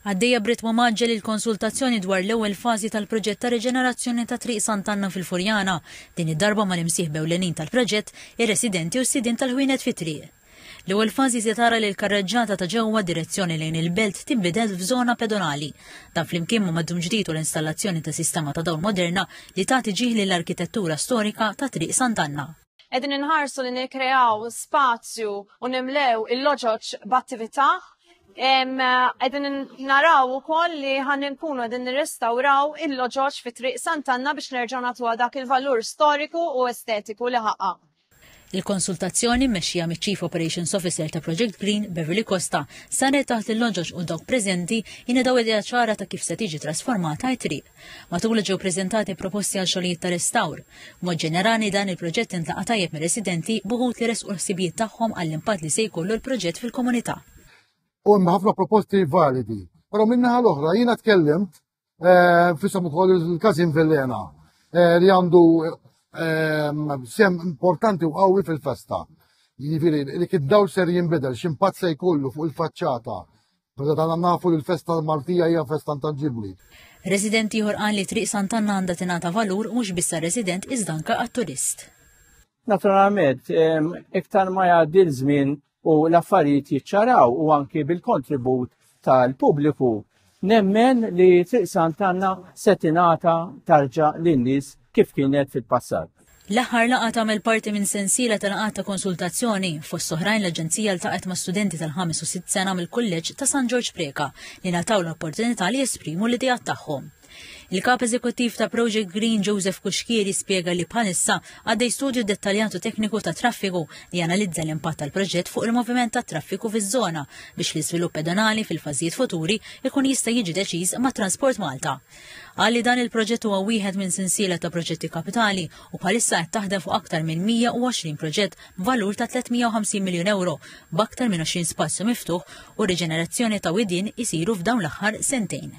Għaddejja b'ritmu mgħaġġel il-konsultazzjoni dwar l-ewwel fażi tal-proġett ta' riġenerazzjoni ta' Triq Sant'Anna fil-Furjana, din id-darba mal-imsieħba ewlenin tal-proġett, ir-residenti u s-sidien tal-ħwienet fit-triq. L-ewwel fażi se tara li l-karreġġata ta' ġewwa direzzjoni lejn il-belt tinbidel f'żona pedonali. Dan flimkien ma' maddum ġdid u l-installazzjoni ta' sistema ta' dawl moderna li tagħti ġieħ lill-arkitettura storika ta' Triq Sant'Anna. Qegħdin inħarsu li nikkreaw spazju u nimlew il-loġoġ b'attività Edin naraw u koll li għan nkunu edin nirrestawraw il-loġoċ fi triq Santanna biex nerġaw natu dak il-valur storiku u estetiku li ħaqqa. Il-konsultazzjoni mmexxija miċ-Chief Operations Officer ta' Project Green, Beverly Costa, saret taħt il-loġoġ u dawk preżenti jingħadaw idea ċara ta' kif se tiġi trasformata t-triq. Matul li ġew preżentati proposti għal xogħlijiet ta' restawr. B'mod ġenerali dan il-proġett intlaqa' tajjeb mir-residenti b'uħud li resqu l-ħsibijiet tagħhom għall-impatt li se jkollu l-proġett fil-komunità. U hemm ħafna proposti validi. Però min-naħa l-oħra jiena tkellimt eh, fisem ukoll il-każin Villena eh, li għandu eh, sem importanti u qawwi fil-festa. Jiġifieri li kid-dawl ser jinbidel x'impatt se jkollu fuq il-faċċata Perda tagħna nafu li l-festa tal-Maltija hija festa intanġibbli. Resident ieħor qal li Triq Sant'Anna għandha tingħata valur mhux biss resident iżda anke għat-turist. Naturalment, iktar ma jgħaddi l-żmien u l-affarijiet jiċċaraw u anki bil-kontribut tal-pubbliku. Nemmen li Triq Sant'Anna se tingħata tarġa lin-nies kif kienet fil-passat. L-aħħar laqgħa tagħmel parti minn sensiela ta' laqgħat ta' konsultazzjoni. Fost oħrajn l-Aġenzija ltaqgħet ma' studenti tal-ħames u sitt sena mill-Kulleġġ ta' San Ġorġ Preca li ngħataw l-opportunità li jesprimu l-ideat tagħhom. Il-Kap Eżekuttiv ta' Project Green Joseph Kuxkieri spjega li bħalissa għaddej studju dettaljatu tekniku ta' traffiku li janalizza l-impatt tal-proġett fuq il-moviment ta' traffiku fiż-żona biex l-iżvilupp pedonali fil-fażijiet futuri ikun jista' jiġi deċiż ma' Transport Malta. Qal li dan il-proġett huwa wieħed minn sinsiela ta' proġetti kapitali u bħalissa qed taħdem fuq aktar minn 120 proġett b'valur ta' 350 miljun euro b'aktar minn 20 spazju miftuħ u riġenerazzjoni ta' widien isiru f'dawn l-aħħar sentejn.